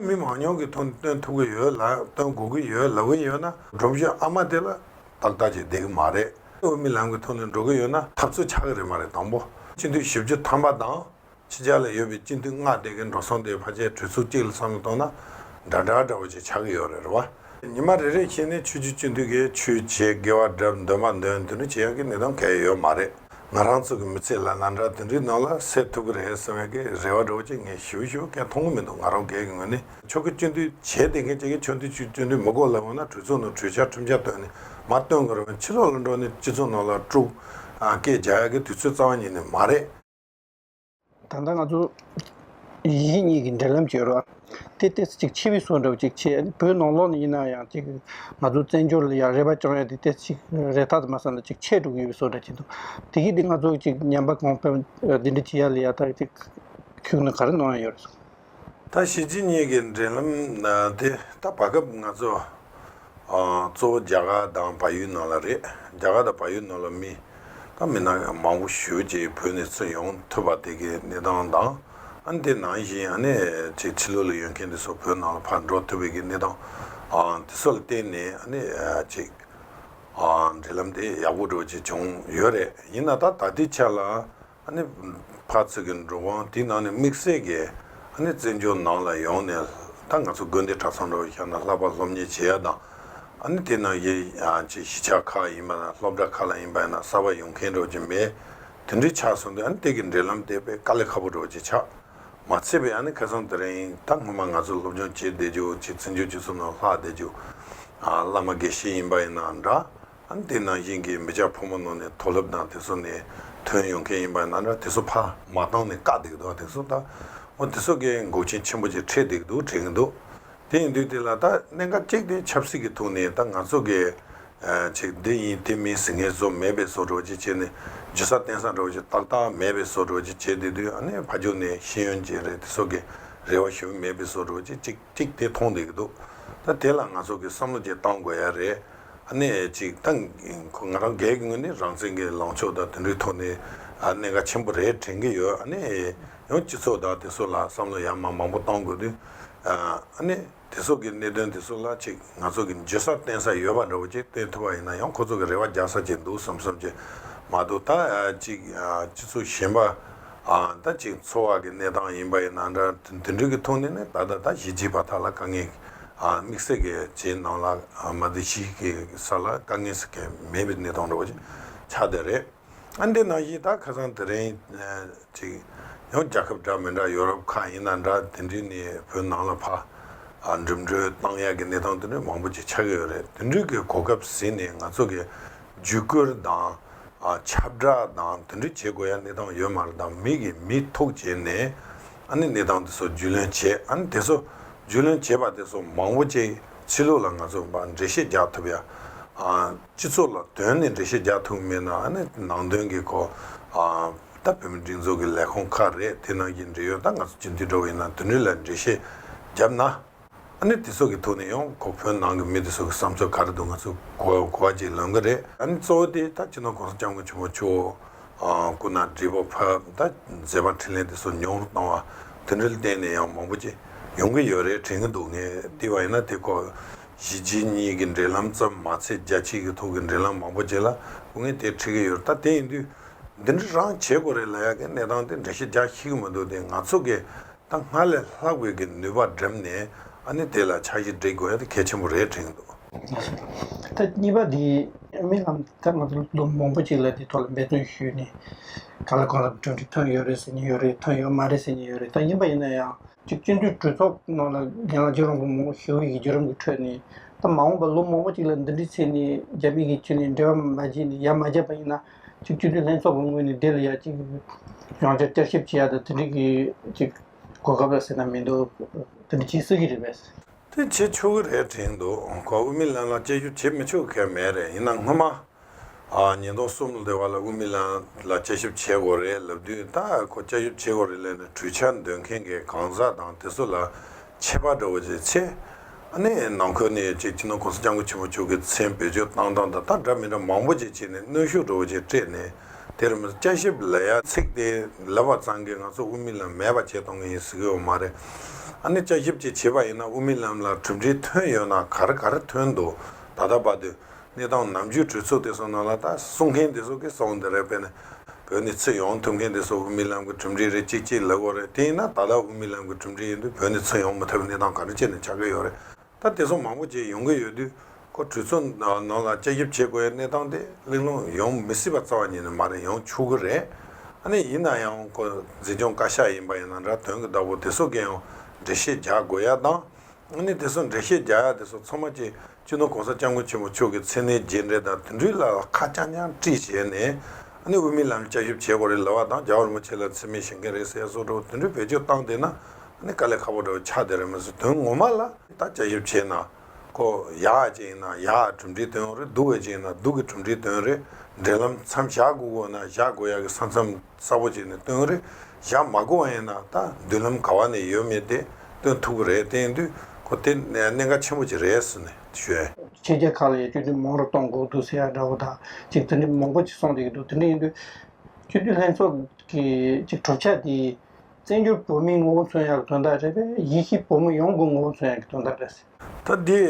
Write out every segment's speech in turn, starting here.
མི་མང་ཉུང་གི་ཐོག་ནས་སྟོན་ཐུབ་ཀྱི་ཡོད་ལ་སྟོན་དགོས་ཀྱི་ཡོད་ལབ་ཀྱི་ཡོད་ན། སྒྲོམ་གཞི་ཨ་མ་དེ་ལ་ཏག་ཏག་ཅིག་བསྡད་ཀྱི་མ་རེད། དབུ་མའི་ལམ་གྱི་ཐོག་ནས་འགྲོ་གི་ཡོད་ན་འཐབ་རྩོད་ཆགས་ཀྱི་རེད་མ་རེད་དང་པོ། སྤྱི་འཐུས་བཞི་བཅུ་ཐམ་པ་དང། ཕྱི་རྒྱལ་ལ་ཡོད་པའི་སྤྱི་འཐུས་ལྔ་བསྡད་ཀྱི་འགྲོ་སོང་དེ་ཕ་ཆའི་གྲོས་ཚོགས་གཅིག་ལ་བསམ་བློ་གཏོང་ན། འདྲ་འདྲ་འདྲ་བོ་ཅིག་ཆགས་ཀྱི་ཡོད་རེད་བ། ཉི་མ་རེ་རེ་བཞིན་ནས་ཆོས་རྒྱུད་སྤྱི་འཐུས་ཀྱི་ཆོས་བྱེད་དགེ་བ་བསྒྲབ་འདོད་མ་འདོད་དེ་འདྲ་བྱེད་ཡག་གི་གནས་སྟངས་གལ་ཡོད་མ་རེད། ང་རང་ཚོ་གི་མི་ཚེ་ལ་ང་འདྲ་དེ་འདྲའི་ནང་ལ་སད་ཐུབ་ཀི་རེད་ཟེར་བའི་གི་རེ་བ་འགྲོ་ཅིག་ངས་ཞུ་ཞུ་ཁའི་མཐོང་གི་མི་འདུག་ང་རང་སྒེར་གི་ངོས་ནས། ཆོ་གི་སྤྱོད་འདུལ་བྱས་བསྡད་མཁན་གཅིག་གི་ཆོ་འདུལ་ཆུ་སྤྱོད་འདུལ་མི་གོ་ལ་འོ་ན་གྲོས་ཚོགས་ནང་གྲོས་འཆར་ཁྲིམས་འཆར་བཏོན་ནས་མ་བཏོན་དགོས་རུང་ཕྱི་ལོག་ལ་འགྲོ་ནས་སྤྱི་ཚོགས་ནང་ལ་དཀྲུགས་སྐད་རྒྱག་ཡག་གི་དུས་ཚོད་རྩ་བ་ཉིད་ནས་མ་རེད། ད་ལྟ་ང་ཚོ་ཡིད་གཉིས་ཀྱི་འབྲེལ་ལམ་གྱི་རོ་དེ་སྟེ་གཅིག་ཕྱི་བས་སོ་འདྲ་བ་ཅིག་ཆེ་བོད་ནང་ལོགས་ནས་ཡིན་ན་ཡང་ཅིག་ང་ཚོ་བཙན་བྱོལ་ལ་ཡང་རེ་བ་བཅང་ཡོད་དེ་སྟེ་ཅིག་རེ་ཐག་དུ་མ་བསམ་ན་ཅིག་ཆད་འགྲོ་གི་ཡོད་པས་སོ་འདྲ་བྱེད་འདུག་དེ་གིས་དེ་ང་ཚོ་ཅིག་ཉམས་པ་གང་ཕན་འདི་འདྲ་བྱེད་ཡ་ལ་ཡ་ད་ཅིག་ཁྱོད་ནི་ག་རེ་གནང་ཡ་ཡོད་རེད་ད་གཞིས་བྱེས་གཉིས་ཀྱི་འབྲེལ་ལམ་དེ་ད་བར་སྐབས་ང་ཚོ་གཙོ་བོ་རྒྱ་གར་དང་བལ་ཡུལ་ནང་ལ་རེད་རྒྱ་གར་དང་བལ་ཡུལ་ནང་ལ་མི་དང་མི་ནག་མང་པོ་གཞིས་བྱེས་བོད་ནས་ཚུར་ཡོང་ཐུབ་པ་དེ་གའི་གནས་སྟངས་དང་ཨ་དེ་ནང་བཞིན་ཨ་ནེ་ཆེ་ཕྱི་ལོག་ལ་ཡོད་མཁན་དེ་ཚོ་བོད་ནང་ལ་ཕར་འགྲོ་ཐུབ་པའི་གནས་སྟངས་དེ་ཚོ་ལ་བརྟེན་ནས་ཨ་ནེ་ཆེ་འབྲེལ་ལམ་དེ་ཡག་པོ་འགྲོ་བྱེད་བྱུང་ཡོད་རེད་ཡིན་ན་ད་ད་ལྟའི་ཆ་ལ། ནི། བར་ཚིགས་ཀྱི་འགྲོ་དབང་དེ་ནང་ནས་དམིགས་བསལ་གྱིས་ནི་བཙན་བྱོལ་ནང་ལ་ཡོང་ནས་ད་ང་ཚོ་དགོན་སྡེ་གྲྭ་ཚང་འགྲོ་བའི་ཤར་ན་ལྷག་པར་སློབ་གཉེར་བྱེད་ཡ་དང། ནི་དེ་ནང་གི་ཆེས་གཞིས་ཆགས་ཁག་ཡིན་པ་ན་སློབ་གྲྭ་ཁག་ལ་ཡིན་པ་ཡིན་ན་གསར་པ་ཡོང་མཁན་འགྲོ་གྱི་མེད། དེ་འདྲའི་ཆགས་སོང་དུས་ནི་དེ་གི་འབྲེལ་ལམ་དེ་བས་དཀའ་ལས་ཁ་པོ་འགྲོ་གྱི་ཆགས། མ་ཚད་པའི་ནི་ཁེ་སོང་དེ་རིང་ད་སྔོན་མ་ང་ཚོ་སློབ་སྦྱོང་བྱེད་བསྡད་རྒྱུ་གཅིག་བཙན་བྱོལ་སྤྱི་ཚོགས་ནང་ལྷག་བསྡད་རྒྱུ། བླ་མ་དགེ་བཤེས་ཡིན་པ་ཡིན་ན་འདྲ། འདི་ནང་བཞིན་གྱི་མི་ཅག་ཕོ་མོ་ནང་ནས་མཐོ་སློབ་དང་དེ་ཚོ་ནས་ཐོན་ཡོང་མཁན་ཡིན་པ་ན་འདྲ་དེ་ཚོ་ཕ་མ་བཏང་ནས་བཀག་བསྡིགས་འདུག་དེ་ཚོ་ད་འོ་དེ་ཚོ་གའི་འགོག་ཆེན་ཆེན་པོ་ཅིག་ཁྲིད་བསྡིགས་འདུག་དྲན་གྱི་འདུག་དེ་ཡིན་དུས་དེ་ལ་ད་གནད་འགག་གཅིག་དེ་ཆབ་སྲིད་ཀྱི་ཐུག་ནས་ད་ང་ཚོ་གའི་ཅིག་འདི་ཡིན་དེ་མིན་ཟིང་ངེ་བཟོ་མེད་པའི་བཟོ་འགྲོ་ཅིག་བྱེད་ནས་ཇི་ས་བསྟན་ས་འགྲོ་ཅིག་ཏག་ཏག་མེད་པའི་བཟོ་འགྲོ་ཅིག་བྱེད་དེ་དུས་ཨ་ནེ་ཕ་ཅུང་ནས་ཤེས་ཡོན་ཅན་རེད་དེ་ཚོ་གའི་རེ་བ་ཞུ་གི་མེད་པའི་བཟོ་འགྲོ་ཅིག་ཅིག་ཅིག་དེ་མཐོང་བསྡིགས་འདུག་ད་དེ་ལ་ང་ཚོ་གའི་བསམ་བློ་ཅིག་བཏང་དགོས་ཡ་རེད། གནས་གཅིག་ད་ང་རང་འགས་ཀྱི་ངོས་ནས་རང་བཙན་གྱི་ལངས་ཕྱོགས་དང་དེ་འདྲའི་ཐོག་ནས་གནད་འགག་ཆེན་པོ་རེད་དྲན་གྱི་ཡོད་ཡང་སྤྱི་ཚོགས་དང་དེ་སོགས་ལ་བསམ་བློ་ཡང་མང་མང་པོ་གཏང་དགོས་དུས་དེ་སོགས་ཀྱི་གནད་དོན་དེ་ཚོ་ལ་ཅིག་ང་ཚོ་གི་འཇོན་ས་བསྟན་ས་ཡོད་པ་འདྲ་བོ་ཅིག་བསྟན་ཐུབ་པ་ཡིན་ན་ཡང་ཁོ་ཚོ་གི་རེ་བ་རྒྱག་ས་ཅིག་འདུག་བསམ་བསམ་ཅིག་མ་འདུག་ད་ཅིག་སྤྱི་ཚོགས་གཞན་པ། ད་ཅིག་འཚོ་བ་གི་གནས་སྟངས་ཡིན་པ་ཡི་ན་འདྲ་དེ་འདྲུ་གི་ཐུགས་ནས་ནི་ད་ལྟ་ད་གཞི་བྱིས་པ་དག་ལ་དཀའ་ངལ་དམིགས་བསལ་གི་བྱེད་གནང་ལ་མ་དེ་གཞི་གི་ས་ལ་དཀའ་ངལ་ས་ཁེལ་མེད་པའི་གནས་སྟངས་འགྲོ་བ་ཆ་དེ་རེད་ཨ་འདི་ན་གཞི་ད་ཁ་སང་དེ་རིང་ཅིག་ཡང་རྒྱ་ཁབ་འདྲ་མི་འདྲ་ཡོ་རོབ་ཁག་ཡིན་ན་འདྲ་དེ་འདྲུ་ནི་བོད་ནང་ལ་ཕ་འགྲིམ་འགྲུལ་བཏང་ཡག་གི་གནས་སྟངས་དེ་འདྲུ་མང་པོ་ཅིག་ཆགས་ཀྱི་ཡོ་རེད་དེ་འདྲུ་གི་གོ་སྐབས་ཟིན་ནི་ང་ཚོ་གི་བརྒྱུད་བསྐུར་དང་ཁྱབ་བསྒྲགས་དང་དོན་འཁྲིད་བྱེད་དགོས་ཡ་གནས་སྟངས་ཡོད་མ་རེད་དམ་མིག་གིས་མི་ཐུག་བྱས་ནས་ཨ་ནི་གནས་སྟངས་དེ་ཚོ་རྒྱུས་ལོན་བྱས་ཨ་ནི་དེ་ཚོ་རྒྱུས་ལོན་བྱས་པ་དེ་ཚོ་མང་བོ་ཅིག་ཕྱི་ལུགས་ལ་ང་ཚོ་བ་འགྲེལ་བཤད་རྒྱག་ཐུབ་ཡ། སྤྱི་ཚོགས་ལ་དོན་ནི་འགྲེལ་བཤད་རྒྱག་ཐུབ་མེད་ན་ཨ་ནི་ནང་དོན་གི་གོ། ད་བོད་མི་སྒྲིག་འཛུགས་ཀྱི་ལས་ཁུངས་ཁག་རེད་དེ་ནང་གི་འབྲེལ་ཡོད་ད་ང་ཚོ་སྤྱི་འཐུས་འགྲོ་བ་ཡིན་ན་དོན་འཁྲིད་ལ་འགྲེལ་བཤད་རྒྱབ་ན་ཨ་ནི་དེ་སོགས་ཀྱི་ཐུགས་ནས་ཡོང་ཁོ་བོད་ནང་གི་མི་དེ་སོགས་ཀྱི་བསམ་ཚུལ་ག་རེ་འདུག་ང་ཚོ་གོ་བ་གཅིག་ལོན་གི་རེད་ཨ་ནི་གཙོ་བོ་དེ་ད་སྤྱི་ནོར་གོང་ས་སྐྱབས་མགོན་ཆེན་པོ་ཆུ་བོ་སྐུ་ན་བགྲེས་པོ་ཕབ་ད་མཛད་པ་འཕྲིན་ལས་དེ་སོགས་མྱོང་རོ་བཏང་བ་དེ་འདྲའི་གཏན་ནས་ཡང་མང་པོ་ཅི་ཡོང་གི་ཡོད་རེད་དྲན་གི་འདུག་ངས་ལྟས་པ་ཡིན་ན་དེ་སྐོར་གཞིས་བྱེས་གཉིས་ཀྱི་འབྲེལ་ལམ་ཙམ་མ་ཚད་རྒྱ་ཆེ་གི་ཐོག་གི་འབྲེལ་ལམ་མང་པོ་ཅིག་ལ་སྐུ་ངལ་དེ་འཕྲད་གི་ཡོད་རེད་ད་དེ་ཡིན་དུས་འདི་འདྲ་རང་བྱེད་དགོ་རེད་ལ་ཡ་གི་གནས་སྟངས་དེ་འདྲ་ཞིག་རྒྱ་ཤི་གི་མི་འདུག་དེ་ང་ཚོ་གི་ད་སྔར་ལས་ལྷག་པའི་གི་ནུས་པ་འགྲེམས་ནས་ཨ་ནི་དེ་ལ་འཆར་གཞི་འབྲི་དགོས་ཡ་གལ་ཆེན་པོ་རེད་དྲན་འདུག། ད་གཉིས་པ་དེ་རྨི་ལམ་ད་ང་ཚོ་ལོ་མང་པོ་ཅིག་ལ་དེ་ཐོག་ལ་འབད་བརྩོན་ཞུས་ནས་ག་ལ་གང་ལ་གྲ་སྒྲིག་ཐོན་ཡོད་རེད་ཟེར་ནི་ཡོད་རེད་ཐོན་ཡོད་མ་རེད་ཟེར་ནི་ཡོད་རེད་ད་ཡིན་པ་ཡིན་ན་ཡང་གཅིག་སྤྱི་འཐུས་གྲོས་ཚོགས་ནང་ལ་རྒན་ལགས་རྗེ་རོང་པོ་མང་པོ་ཞིག་དབུས་ཀྱི་བརྒྱུད་རིམ་གྱི་ཁྲོད་ནས་ད་མ་འོངས་པ་ལོ་མང་པོ་ཅིག་ལ་འདི་འདྲི་ཚེ་ནི་རྒྱ་མི་གི་ཆུ་ནས་འབྲེལ་བ་མ་བྱས་ནས་ཡ་མ་བརྒྱབ་པ་ཡིན་ན། གཅིག་སྤྱི་འཐུས་ལྷན་ཚོགས་ཀྱི་ངོས་ནས་འདི་ལ་ཡ་གཅིག་རང་བྱུང་བསྐྱར་ཞིབ་བྱེད་ཡ་དང་དེ་འགྲིག་གཅིག་གོ་སྐབས་ལ་ཟེར་ན་མི་འདུག་དེ་འདྲ་བྱེད་སྲིད་ཀྱི་རེད་པས། དེ་བྱེད་ཆོག་གི་རེད་དྲན་འདུག་གོ་དབུ་མི་ལྷན་ལ་དཔྱད་ཞིབ་བྱེད་མི་ཆོག་གལ་མེད་རེད་ཡིན་ན་སྔོན་མ། ཉིས་སྟོང་གསུམ་ལོ་དེ་བར་ལ་དབུ་མི་ལྷན་ལ་དཔྱད་ཞིབ་བྱེད་དགོས་རེད་ལབ་དུས་ད་ཁོ་དཔྱད་ཞིབ་བྱེད་དགོས་རེད་ལན་ནི་གྲོས་འཆར་འདོན་མཁན་གྱི་གང་ཟག་དང་དེ་ཚོ་ལ་ཆད་པ་འགྲོ་བ་ཅིག་ཆེ། ནས་ནང་ཁུལ་ནས་ཅིག་ཅིན་ནོ་ཀུང་སི་ལྕང་སྐུ་ཆེན་མོ་ཕྱུག་གི་མཚན་བེད་སྤྱོད་བཏང་སྟངས་དང་ཐག་འདྲ་མི་འདྲ་མང་པོ་ཅིག་བྱས་ནས་གནོན་ཤུགས་འགྲོ་བ་ཅིག་སྤྲད་ནས་དེར་དཔྱད་ཞིབ་ལ་ཡ་ཚེགས་ཏེ་ལེ་བར་ཙང་གིས་ང་ཚོ་དབུ་མི་ལམ་མེད་པ་བྱས་གཏོང་གི་ཡིན་ཟེར་གི་ཡོད་མ་རེད། ནས་དཔྱད་ཞིབ་ཅིག་བྱས་པ་ཡིན་ན་དབུ་མི་ལམ་ལ་གྲུབ་འབྲས་ཐོན་ཡོད་ན་གར་གར་ཐོན་འདུག་ད་ལྟ་བར་དུ། གནས་སྟངས་ནམ་རྒྱུན་གྲོས་ཚོགས་འདི་སོང་ནང་ལ་དང་གསུང་མཁན་འདི་སོགས་ཀྱིས་སོང་འདི་རེད་དཔེར་ན། བོད་ནས་ཚུད་ཡོང་ཐུབ་མཁན་འདི་སོགས་དབུ་མའི་ལམ་གྱི་གྲུབ་འབྲས་རེད་ཅིག་ཅིག་ལེགས་བོ་རེད་དེ་ཡིན་ན་ད་ལྟ་དབུ་མའི་ལམ་གྱི་གྲུབ་འབྲས་ཡིན་དུས་བོད་ནས་ཚུད་ཡོང་མི་ཐུབ་པའི་གནས་སྟངས་ག་རེ་བྱས་ནས་ཆགས་ཀྱི་ཡོད་རེད་ད་དེ་སོགས་མང་པོ་བྱས་ཡོང་གི་ཡོད་དུས་ཁོ་གྲོས་ཚོགས་ནང་ལ་དཔྱད་ཞིབ་བྱེད་དགོས་ཡའི་གནས་སྟངས་དེ་གླེང་སློང་ཡོང་མི་སྲིད་པ་རྩ་བ་ཉིད་ནས་མ་རེད་ཡོང་ཆོག་གི་རེད་ཨ་ནི་ཡིན་ན་ཡང་ཁོ་འཛིན་སྐྱོང་བཀའ་ཤག་ཡིན་པ་ཡིན་ན་འདྲ་དོན་གྱི་བདག་པོ་དེ་སོགས་ཀྱིས་ཡང་འགྲེལ་བཤད་རྒྱག་དགོས་ཡ་དང། ནི་དེ་སོགས་འགྲེལ་བཤད་རྒྱ་ཡག་དེ་སོགས་ཚང་མ་བཅས་སྤྱི་ནོར་གོང་ས་སྐྱབས་མགོན་ཆེན་པོ་མཆོག་གི་མཚན་གནས་རྗེས་འབྲེལ་དང་དུད་འགྲིག་ལ་ཁ་རྐྱང་རྐྱང་དཀྲིས་བྱས་ནས། ནི་དབུ་མའི་ལམ་བསྐྱར་ཞིབ་བྱེད་དགོས་རེད་ལབ་བ་དང་རྒྱ་བོར་མི་ཆེ་ལ་འཚེ་མེད་བྱེད་མཁན་རེད་ཟེར་ཡ་སོགས་འདྲ་བོ་དུད་འགྲིག་བེད་སྤྱོད་བཏང་བསྡད་ན། ནི་དཀའ་ལས་ཁག་པོ་འདྲ་བོ་ཆགས་བསྡད་རེད་མི་སྲིད་དོན་ངོ་མ་ལ། ད་བསྐྱར་ཞིབ་བྱས་ན། ཁོ། ཡག་ཅིག་ཡིན་ན་ཡག་གྲུབ་འབྲས་སྟོན་ཡོང་རེད་སྡུག་བས་ཅིག་ཡིན་ན་སྡུག་གི་གྲུབ་འབྲས་སྟོན་རེད་འབྲེལ་ལམ་མཚམས་བཞག་དགོས་དགོས་ན་བཞག་དགོས་ཡག་གི་ས་མཚམས། གསལ་པོ་བྱས་ནས་སྟོན་རེ་བཞག་མ་གོ་བ་ཡིན་ན་ད་མདུན་ལམ་ག་བ་ནས་ཡོད་མེད་དེ་སྟོན་ཐུབ་ཀྱི་རེད་བསྟན་དུས་ཁོ་དེ་གནད་འགག་ཆེན་པོ་ཅིག་རེད་ཟེར་ནས་བཤད། ཕྱི་རྒྱལ་ཁག་ལ་ཡང་སྤྱོད་དུས་མང་རུ་གཏོང་དགོས་འདུག་ཟེར་ཡ་འདྲ་བོ་དག་ཅིག་དེ་འདྲའི་མང་པོ་ཅིག་གསུངས་བསྡད་ཀྱི་འདུག་དེ་འདྲ་ཡིན་དུས། སྤྱོད་དུས་ལྷན་ཚོགས་ཀྱི་ཅིག་གྲུབ་ཆ་དེ། བཙན་བྱོལ་བོད་མིའི་ངོ་བོ་མཚོན་ཡག་གི་དོན་དག་རེད་པས་ཡེ་ཤེས་བོད་མི་ཡོངས་ཀྱི་ངོ་བོ་མཚོན་ཡག་གི་དོན་དག་རེད། ད་དེ།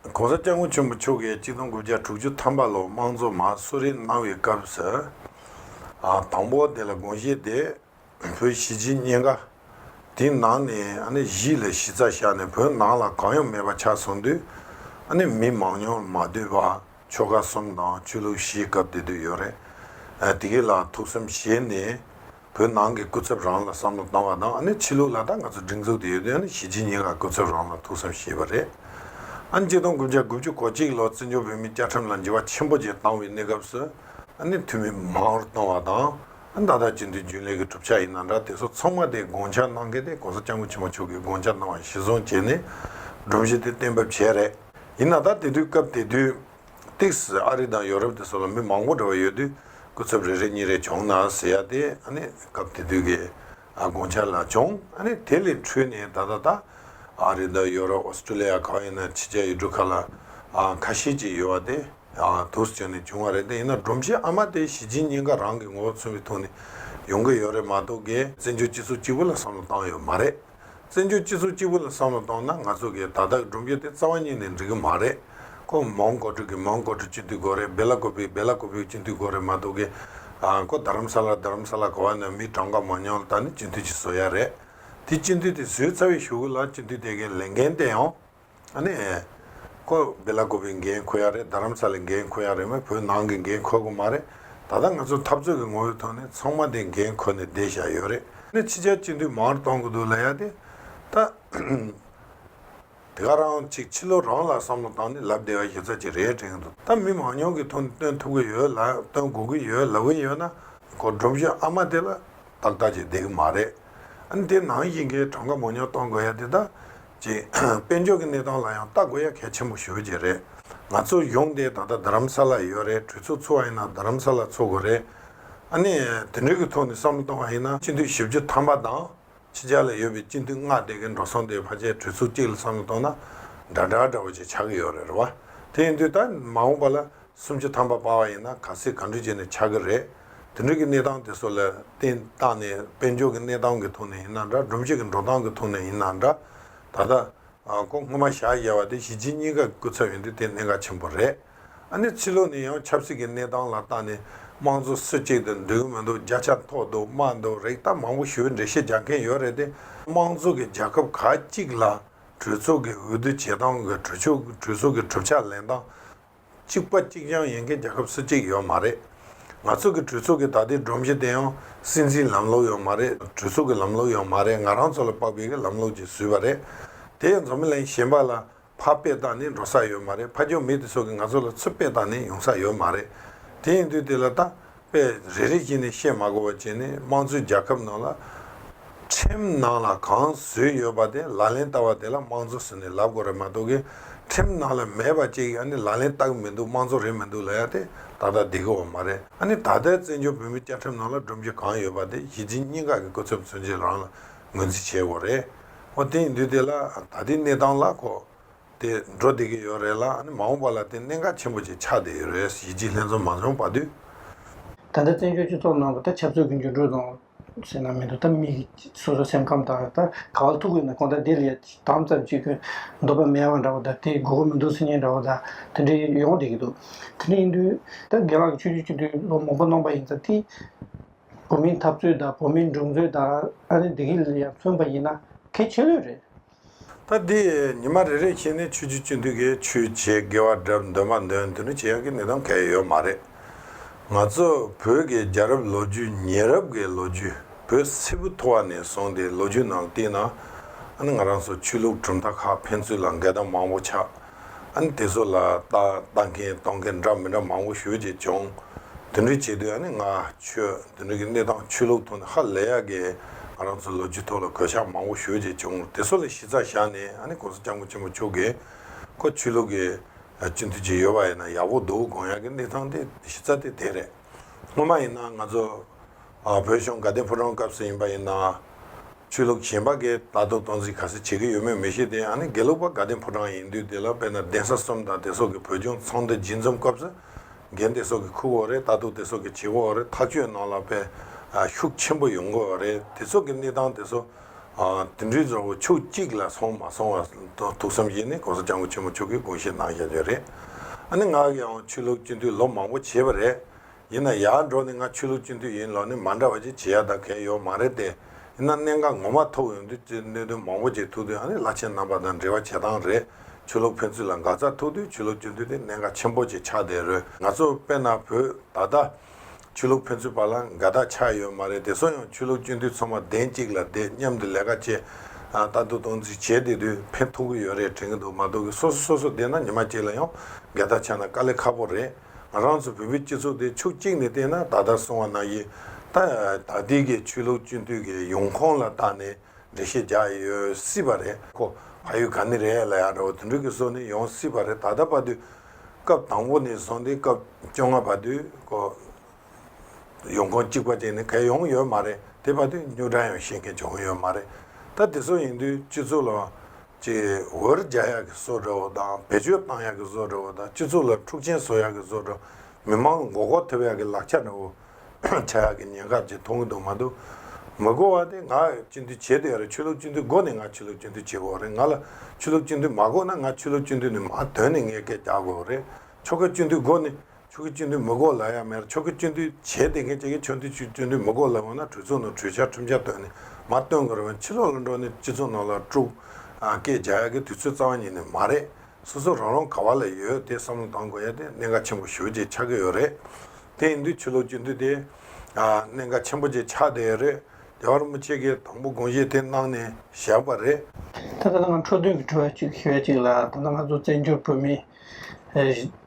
ྋགོང་ས་སྐྱབས་མགོན་ཆེན་པོ་མཆོག་གིས་སྤྱི་སྟོང་དགུ་བརྒྱ་དྲུག་ཅུ་ཐམ་པ་ལོར་དམངས་གཙོ་མ་གསོལ་རས་གནང་བའི་སྐབས་སུ། དང་པོ་དེ་ལ་དགོངས་བཞེས་ཏེ། བོད་གཞིས་བྱེས་གཉིས་ཀ། དེའི་ནང་ནས་གཞིས་ལ་གཞི་རྩ་བཞག་ནས་བོད་ནང་ལ་གང་ཡང་མེད་པ་ཆགས་སོང་དུས། མི་མང་ཉུང་མ་བསྡུས་པ་ཆོལ་ཁ་གསུམ་དང་ཆོས་ལུགས་བཞིའི་སྐབས་དེ་དུས་ཡོད་རེད། དེ་ག་ལ་ཐུགས་བསམ་བཞེས་ནས། བོད་ནང་གི་སྐུ་ཚབ་རང་ལ་བསམ་བློ་བཏང་བ་དང་ཨ་ནི་ཕྱི་ལུགས་ལ་ད་ང་ཚོ་སྒྲིག་འཛུགས་དེ་ཡོད་དུས་ཨ་ནི་གཞིས་བྱེས་གཉིས་ལ་སྐུ་ཚབ་རང་ལ་ཐུགས་བསམ་བཞེས་པ་རེད། ཨ་ནི་སྤྱི་སྟོང་དགུ་བརྒྱ་དགུ་བཅུ་གོ་གཅིག་ལོར་བཙན་བྱོལ་བོད་མིའི་བཅའ་ཁྲིམས་ལ་འགྱུར་བ་ཆེན་པོ་བཅས་བཏང་བའི་གནས་སྐབས་སུ་ཨ་ནི་འཐུས་མི་མང་བོར་བཏང་བ་དང་ཨ་ནི་ད་ལྟ་སྤྱི་འཐུས་རྒྱུན་ལས་ཀྱི་གྲུབ་ཆ་ཡིན་ན་འདྲ་དེ་ཚོ་ཚང་མ་དེ་དགོངས་འཆར་གནང་གལ་ཏེ་གོང་ས་སྐྱབས་མགོན་ཆེན་པོ་མཆོག་གིས་དགོངས་འཆར་གནང་བ་གཞིར་བཟུང་བྱས་ནས་སྒྲོམ་གཞི་དེ་གཏན་འབེབས་བྱས་རེད། ཡིན་ན་ད་དེ་དུས་སྐབས་དེ་དུས། ཏིག་སི་ཨ་རི་དང་ཡོ་རོབ་དེ་སོགས་ལ་མི་མང་པོ་འགྲོ་བ་ཡོད་དུས་སྐུ་ཚབ་རེ་རེ་གཉིས་རེ་བྱུང་ན་ཟེར་ཡག་སྟེ། སྐབས་དེ་དུས་ཀྱི་དགོངས་འཆར་ལ་བྱུང། དེ་ལས་འཕྲོས་ནས་ད་ལྟ་ད། ཨ་རི་དང་ཡོ་རོབ་ཨོ་སྟྲེ་ལི་ཡ་གང་ཡིན་ན་ཕྱི་རྒྱལ་ཡུལ་གྲུ་ཁག་ལ་ཁ་ཤས་ཅིག་ཡོད་བ་དེ་དུས་སུ་བྱུང་ནས་བྱུང་བ་རེད་དེ་ཡིན་ན་སྒྲོམ་གཞི་ཨ་མ་དེ་གཞི་སྦྱིན་སྙིང་ག་རང་གི་ངོ་བོ་མཚོན་པའི་ཐོག་ནས་ཡོང་གི་ཡོད་རེད་མ་གཏོགས་གལ། བཙན་བྱོལ་སྤྱི་ཚོགས་གཅིག་པུ་ལ་བསམ་བློ་བཏང་ཡོད་མ་རེད། བཙན་བྱོལ་སྤྱི་ཚོགས་གཅིག་པུ་ལ་བསམ་བློ་གཏོང་ན་ང་ཚོ་གིས་ད་ལྟ་སྒྲུབ་རྒྱུ་དེ་རྩ་བ་ཉིད་ནས་འགྲིག་གི་མ་རེད། ཁོ་མོང་གོ་ཕྲུག་གིས་མོང་གོ་ཕྲུག་སྤྱི་འཐུས་གོ་རེད་སྦེ་ལ་གོ་བོས་སྦེ་ལ་གོ་བོས་སྤྱི་འཐུས་གོ་རེད་མ་གཏོགས་ཀི། ཁོ་རྡ་རམ་ས་ལར་རྡ་རམ་ས་ལ་གོ་བ་ནས་མི་གྲངས་འགའ་མ་མྱོང་ད་ནི་སྤྱི་འཐུས་ཀྱི་བཟོ་ཡ་རེད། དེ་སྤྱི་འཐུས་དེ་བཟོས་ཚར་བའི་ཞུ་གུ་ལ་སྤྱི་འཐུས་དེ་གའི་ལས་འགན་ཏེ་ཡང། ཨཱ་ནི། ཁོ་བདེ་ལ་གོ་བའི་འགན་ཁོ་ཡག་རེད་རྡ་རམ་ས་ལའི་འགན་ཁོ་ཡག་རེད་མོད་བོད་ནང་གི་འགན་ཁོ་གི་མ་རེད། ད་ལྟ་ང་ཚོ་འཐབ་རྩོད་ཀྱི་ངོ་བོའི་ཐོག་ནས་ཚང་མ་དེ་འགན་ཁོ་ནས་བསྡད་བཞག་ཡོད་རེད། ནས་ཕྱི་རྒྱལ་སྤྱི་འཐུས་མང་གཏོང་གི་འདུག་ལ་ཡ་དེ། ད། དེ་ག་རང་ཅིག་ཕྱི་ལོ་རང་ལ་བསམ་བློ་བཏང་ནས་ལབ་བསྡད་པ་ཞིབ་ཚགས་ཅིག་རེད་དྲན་གྱི་འདུག་ད་མི་མང་ཉུང་གི་ཐུགས་ནས་སྟོན་ཐུབ་གི་ཡོད་ལ་སྟོན་དགོས་ཀྱི་ཡོད་ལབ་གི་ཡོད་ན། གོ་སྒྲུབ་ཞོག་ཨ་མ་དེ་ལ། ཏག་ཏག་ཅིག་བསྡད་གི་མ་རེད། ཨ་ནི་དེ་ནང་བཞིན་གྱི་གྲངས་ཀ་མང་ཉུང་གཏོང་དགོས་ཡ་དེ་ད། ཅེས་དཔལ་འབྱོར་གྱི་གནས་སྟངས་ལ་ཡང་ལྟ་དགོས་ཡ་གལ་ཆེན་པོ་ཞུ་རྒྱུ་རེད། ང་ཚོ་ཡོང་དེ་ད་ལྟ་རྡ་རམ་ས་ལ་ཡོད་རེད་གྲོས་ཚོགས་ཚུགས་བ་ཡིན་ན་རྡ་རམ་ས་ལ་ཚུགས་དགོས་རེད། ཨ་ནི་དེ་འདྲའི་གི་ཐོག་ནས་བསམ་བློ་གཏོང་བ་ཡིན་ན་སྤྱི་འཐུས་བཞི་བཅུ་ཐམ་པ་དང་ཕྱི་རྒྱལ་ལ་ཡོད་པའི་སྤྱི་འཐུས་ལྔ་དེ་གི་འགྲོ་སོང་དེ་བར་ཆད་གྲོས་ཚོགས་གཅིག་ལ་བསམ་བློ་གཏོང་ན་འདྲ་འདྲ་འདྲ་བོ་ཅིག་ཆགས་གི་ཡོད་རེད་རེད་བ། དེ་ཡིན་དུས་ད་མ་འོངས་པ་ལ་སུམ་ཅུ་ཐམ་པ་སྤར་བ་ཡིན་ན་ག་ཚོད་ག་འདྲུད་བྱས་ནས་ཆགས་ཀྱི་རེད། དེ་འདྲུད་ཀྱི་གནས་སྟངས་དེ་ཚོ་ལ་བརྟེན་བཏགས་ནས་དཔལ་འབྱོར་གྱི་གནས་སྟངས་ཀྱི་ཐོག་ནས་ཡིན་ན་འདྲ་སྒྲོམ་གཞི་གྱི་འགྲོ་སྟངས་ཀྱི་ཐོག་ནས་ཡིན་ན་འདྲ། ད་ལྟ། ཁོང་སྔོན་མ་ཞག་བཞེས་བ་དེ་གཞིས་བྱེས་གཉིས་ཀ་གི་སྐུ་ཚབ་ཡིན་དུས་དེ་གནད་འགག་ཆེན་པོ་རེད། ཨ་ནེ་ཚེ་ལོ་ནི་ཡང་ཆབ་སྲིད་ཀྱི་གནས་སྟངས་ལ་བརྟགས་ནས་དམངས་གཙོ་སུ་གཅིག་དེ་འདྲུད་ཀྱི་མི་འདུག་བརྒྱ་ཆ་མཐོ་འདུག་དམའ་འདུག་རེག་ཐབས་མང་པོ་ཞུས་འགྲེལ་བཤད་རྒྱག་མཁན་ཡོད་རེད་དེ། དམངས་གཙོ་གི་རྒྱལ་ཁབ་ག་གཅིག་ལ་གྲོས་ཚོགས་ཀྱི་འོས་བསྡུ་བྱེད་སྟངས་གྲོས་ཚོགས་ཀྱི་གྲུབ་ཆ་ལེན་སྟངས། གཅིག་པ་གཅིག་རྐྱང་ཡིན་མཁན་རྒྱལ་ཁབ་སུ་གཅིག་ཡོད་མ་རེད། ང་ཚོ་གི་གྲོས་ཚོགས་ཀྱི་ད་ལྟའི་སྒྲོམ་གཞི་དེ་ཡང་སྲིད་འཛིན་ལམ་ལུགས་ཡོད་མ་རེད་གྲོས་ཚོགས་ཀྱི་ལམ་ལུགས་ཡོད་མ་རེད་ང་རང་ཚོ་ལ་དཔག་པའི་གི་ལམ་ལུགས་ཀྱིས་བཟོས་པ་རེད། དེ་ཡང་འཛོམས་ལན་གཞན་པ་ལ་ཕ་དཔེ་བཏགས་ནས་འགྲོ་ས་ཡོད་མ་རེད་ཕ་ཀྱོག་མི་དེ་ཚོ་གི་ང་ཚོ་ལ་ཚུར་དཔེ་བཏགས་ནས་ཡོང་ས་ཡོད་མ་རེད། དེ་ཡིན་དུས་དེ་ལ་ལྟ། པས་རེ་རེ་བྱས་ནས་བཤད་མ་གོ་བ་བྱས་ནས་དམངས་གཙོའི་རྒྱལ་ཁབ་ནང་ལ། ཁྲིམས་ནང་ལ་གང་བཟོས་ཡོད་པ་དེ་ལག་ལེན་བསྟར་བ་དེ་ལ་དམངས་གཙོ་ཟེར་ནས་ལབ་གོ་རེད་མ་གཏོགས་གི་ཁྲིམས་ནང་ལ་མེད་པ་ཅིག་ཡང་ནི་ལག་ལེན་བསྟར་གི་མི་འདུག་དམངས་གཙོ་རེད་མི་འདུག་ལ་ཡང་དེ་ད་ལྟ་བསྡད་གི་བ་མ་རེད་ཨ་ནི་ད་ལྟའི་བཙན་བྱོལ་བོད་མིའི་བཅའ་ཁྲིམས་ནང་ལ་སྒྲོམ་གཞི་གང་ཡོད་པ་དེ་གཞི་བྱེས་གཉིས་ཀ་གི་སྐུ་ཚབ་མཚོན་བྱེད་རང་ལ་ངོས་འཛིན་བྱས་གོ་རེད། འོ་དེ་ཡིན་དུས་དེ་ལ་ད་ལྟའི་གནས་སྟངས་ལ་གོ། དེ་འགྲོ་བདེ་གི་ཡོད་རེད་ལ་ཨ་མ་འོངས་པ་ལ་བརྟེན་གནད་འགག་ཆེན་པོ་ཅིག་ཆགས་བསྡད་ཡོད་རེད་གཞིས་བྱེས་ལྷན་འཛོམས་མ་འབྱོངས་པ་དུས། ད་ལྟ་བཙན་བྱོལ་སྤྱི་ཚོགས་ནང་ད་ཆབ་སྲོལ་གྱི་འགྱུར་འགྲོས་དང། ཟེར་ན་མི་འདུག་ད་མི་སོ་སོ་སེམས་ཁམས་དང་ད་ག་བ་ཐུག་གི་ན་གོང་ད་དེ་ལ་ཡ་དམ་ཙམ་བྱེད་དགོས་འདོད་པ་མེད་བ་འདྲ་བོ་ད་དེ་དགོས་མཁོ་མི་འདུག་སེམས་ཉིད་འདྲ་བོ་ད་དེ་འདྲ་ཡོང་བསྡད་ཀྱི་འདུག་དེ་འདྲ་ཡིན་དུས་ད་དགེ་ལགས་ཀྱི་ཆོས་རྒྱུད་སྤྱི་འཐུས་ལོ་མང་པོ་གནང་པ་ཡིན་ཙང་དེ་བོད་མིའི་འཐབ་རྩོད་དང་བོད་མིའི་འགྲོ་རྩོད་དང་ཨ་ནི་འདི་གི་ལ་ཡང་མཚོན་པ་ཡིན་ན་གལ་ཆེ་ལོས་རེད། ད་འདི་ཉི་མ་རེ་རེ་བྱས་ནས་ཆོས་རྗེ་བཅུ་འདུས་ཀྱིས་ཆོས་བྱེད་དགེ་བ་གྲབས་འདོན་མ་འདོན་དེ་འདྲ་བྱེད་ཡག་གི་གནས་སྟངས་གལ་ཡོད་མ་རེད། ང་ཚོ་བོད་ཀྱི་རྒྱ་རབས་ལོ་རྒྱུས་ཉེ་རབས་ཀྱི་ལོ་རྒྱུས་བོད་སིལ་བུ་འཐོར་བ་ནས་བཟུང་སྟེ་ལོ་རྒྱུས་ནང་བལྟས་ན། ང་རང་ཚོ་ཆོས་ལུགས་གྲུབ་མཐའ་ཁག་ཕན་ཚུན་ལ་འགལ་ཟླ་མང་བོ་ཆགས། ཨ་ནི་དེ་ཚོ་ལ་བལྟ་བལྟ་མཁན་གཏོང་མཁན་འདྲ་མི་འདྲ་མང་བོ་ཞོལ་ཅིག་བྱུང། དེ་འདྲ་བྱེད་དུས་ཨ་ནི་ང་ཆོས་དེ་འདྲ་གི་གནས་སྟངས་ཆོས་ལུགས་ཐོག་ནས་ཧ་ལས་ཡག་གི་ང་རང་ཚོ་ལོ་རྒྱུས་ཐོག་ལ་གོད་ཆག་མང་བོ་ཞོལ་ཅིག་བྱུང་དེ་ཚོ་ལ་གཞི་རྩ་བཞག་ནས་ཨ་ནི་གོང་ས་སྐྱབས་མགོན་ཆེན་པོ་མཆོག་གིས་ཁོ་ཆོས་ལུགས་ཀྱི་སྤྱི་འཐུས་ཅིག་ཡོད་པ་ཡིན་ན་ཡག་པོ་འདུག་དགོངས་ཡག་གི་གནས་སྟངས་དེ་གཞི་རྩ་དེ་དེ་རེད་སྔོན་མ་ཡིན་ན་ང་ཚོ། བོད་གཞུང་དགའ་ལྡན་ཕོ་བྲང་སྐབས་སུ་ཡིན་པ་ཡིན་ན། ཆོས་ལུགས་གཞན་པ་འགས་ད་དུང་སྟངས་འཛིན་ག་ས་བྱེད་ཀྱི་ཡོད་མེད་མི་ཤེས་ཏེ་ཡང་ན་དགེ་ལུགས་པ་དགའ་ལྡན་ཕོ་བྲང་ཡིན་དུས་དེ་ལ་དཔེར་ན་གདན་ས་གསུམ་དང་དེ་སོགས་ཀྱི་བོད་ལྗོངས་ཚོང་སྡེ་སྦྱིན་འཛོམས་སྐབས་སུ། འགན་དེ་སོགས་ཀྱི་ཁུར་བོ་རེད་ད་དུང་དེ་སོགས་ཀྱི་བྱེད་བོ་རེད་ཐག་གཅོད་གནང་ལ་པའི་ཤུགས་ཆེན་པོ་ཡོང་དགོས་བ་རེད་དེ་སོགས་ཀྱི་གནས་སྟངས་དེ་ཚོ། དེ་འདྲའི་བཟང་བོ་ཕྱོགས་གཅིག་ལ་སོང་མ་སོང་བ་ཐུགས་བསམ་བཞིན་ནས་གོང་ས་སྤྱང་པོ་ཆེན་མོ་མཆོག་གིས་དགོངས་བཞེས་གནང་བཞག་རྒྱུ་རེད། ཨ་ནི་ང་ཡང་ཆོས་ལུགས་སྤྱི་འཐུས་ལོ་མང་པོ་བྱས་པ་རེད། ཡིན་ན་ཡག་འགྲོ་ནི་ང་ཆོས་ལུགས་སྤྱི་འཐུས་ཡིན་ལོ་ནི་མ་འདྲ་བ་ཅིག་བྱེད་ཡ་ད་གལ་ཡོད་མ་རེད་དེ། ཡིན་ན་གནད་འགག་ངོ་མ་ཐོབ་ཡོང་དུས་ཀྱི་གནད་དོན་མང་པོ་ཅིག་ཐུག་དུས་ཨ་ནི་བླ་ཆེན་རྣམ་པ་དང་འབྲེལ་བ་བྱེད་སྟངས་རེད། ཆོས་ལུགས་ཕན་ཚུན་ལ་འགག་རྩ་ཐུག་དུས་ཆོས་ལུགས་སྤྱི་འཐུས་དེ་གནད་འགག་ཆེན་པོ་ཅིག་ཆགས་བསྡད་རོལ་ང་ཚོ་དཔེ་ན་བོད་ད་ལྟ། ཆོས་ལུགས་ཕན་ཚུན་བར་ལ་འགལ་ཟླ་ཆགས་ཡོད་མ་རེད་དེ་སོང་ཡང་ཆོས་ལུགས་སྤྱི་འཐུས་ཚང་མ་གདན་གཅིག་ལ་བསྡད་མཉམ་དུ་ལས་ཀ་བྱས། ལྟ་འདོད་གཏོང་རྩིས་བྱས་བསྡད་དུས་ཕན་ཐོག་གི་ཡོད་རེད་དྲན་གྱི་འདུག་མ་གཏོགས་གི་སོ་སོ་སོ་སོ་བསྡད་ན་ཉི་མ་གཅིག་ལ་ཡང་འགལ་ཟླ་ཆགས་ན་དཀའ་ལས་ཁག་པོ་རེད། ང་རང་ཚོ་བོད་མིའི་སྤྱི་ཚོགས་དེ་ཕྱོགས་གཅིག་ནས་བལྟས་ན་ད་ལྟར་སོང་བ་ན་ཡི་ད་ལྟའི་གི་ཆོས་ལུགས་སྤྱི་འཐུས་ཀྱི་ཡོང་ཁོངས་ལ་བརྟགས་ནས་འགྲེལ་བཤད་རྒྱག་ཡོད་སྲིད་པ་རེད་ཁོ་ཨ་ཡུ་ག་ནི་རེད་ལ་ཡག་འདྲ་བོ་དེ་འདྲ་གི་སོགས་ནི་ཡོང་སྲིད་པ་རེད་ད་ལྟ་བར་དུས་སྐབས་དང་པོ་ནས་བཟུང་སྟེ་སྐབས་བཅོ་ལྔ་བར་དུས་ཁོ་ཡོང་ཁུངས་གཅིག་པ་དེ་ནི་གལ་ཡོང་ཡོད་མ་རེད་དེ་བར་དུ་སྙུག་དྲ་ཡང་ཤེས་མཁན་བྱུང་ཡོད་མ་རེད་ད་དེ་ཚོ་ཡིན་དུས་སྤྱི་ཚོགས་ལ་ཅིག་འོར་རྒྱག་ཡག་གི་བཟོ་འདྲ་བོ་དང་བེད་སྤྱོད་བཏང་ཡག་གི་བཟོ་འདྲ་བོ་དང་སྤྱི་ཚོགས་ལ་འཁྲུག་ཆེན་བཟོ་ཡག་གི་བཟོ་འདྲ་མི་མང་ལ་མགོ་སྐོར་ཐེབས་ཡག་གི་ལག་ཆ་འདྲ་བོ་བྱ་ཡག་གི་ཉེན་ཁ་ཅིག་མཐོང་གི་འདུག་མ་འདུག་མི་གོ་བ་དེ་ང་སྤྱི་འཐུས་བྱེད་དུ་ཡ་རེད་ཆོས་ལུགས་སྤྱི་འཐུས་གོ་ནས་ང་ཆོས་ལུགས་སྤྱི་འཐུས་བྱེད་དགོས་རེད་ང་ལ་ཆོས་ལུགས་སྤྱི་འཐུས་མ་གོ་ན་ང་ཆོས་ལུགས་སྤྱི་འཐུས་ནས་མ་དོན་ནས་ངས་སྐད་རྒྱག་དགོས་རེད་ཆོ་ག་སྤྱི་འཐུས་གོ་ནས་ཆོས་ཀྱི་སྤྱོད་འདུལ་མི་གོ་ལ་ཡང་མེད་ཆོས་ཀྱི་སྤྱོད་འདུལ་བྱས་བསྡད་མཁན་གཅིག་གིས་ཆོས་འདུལ་སྤྱོད་འདུལ་མི་གོ་ལ་ཡོང་ན་གྲོས་ཚོགས་ནང་གྲོས་འཆར་ཁྲིམས་འཆར་བཏོན་ནས་མར་བཏོན་དགོས་རེད་བ་ཕྱི་ལོག་ལ་འགྲོ་ནས་སྤྱི་ཚོགས་ནང་ལ་དཀྲུགས་སྐད་རྒྱག་ཡག་གི་དུས་ཚོད་རྩ་བ་ཉིད་ནས་མ་རེད་སོ་སོ་རང་རང་ག་བ་ལ་ཡོད་དེ་བསམ་བློ་བཏང་དགོས་ཡ་དེ་གནད་འགག་ཆེན་པོ་ཞུ་རྒྱུ་ཆགས་ཀྱི་ཡོད་རེད་དེ་ཡིན་དུས་ཆོས་ལུགས་སྤྱོད་འདུལ་དེ་གནད་འགག་ཆེན་པོ་ཅིག་ཆགས་བསྡད་ཡོད་རེད་རྒྱ་གར་མི་ཆེ་གེ་དང་པོ་དགོངས་བཞེས་དེ་གནང་ནས་བཞག་པ་རེད། དེ་ལྟར་ང་འཕྲོ་འདུན་གྱི་དྲི་བ་གཅིག་ཞུ་ཡ་གཅིག་ལ་ད་ལྟ་ང་ཚོ་བཙན་བྱོལ་བོད་མི།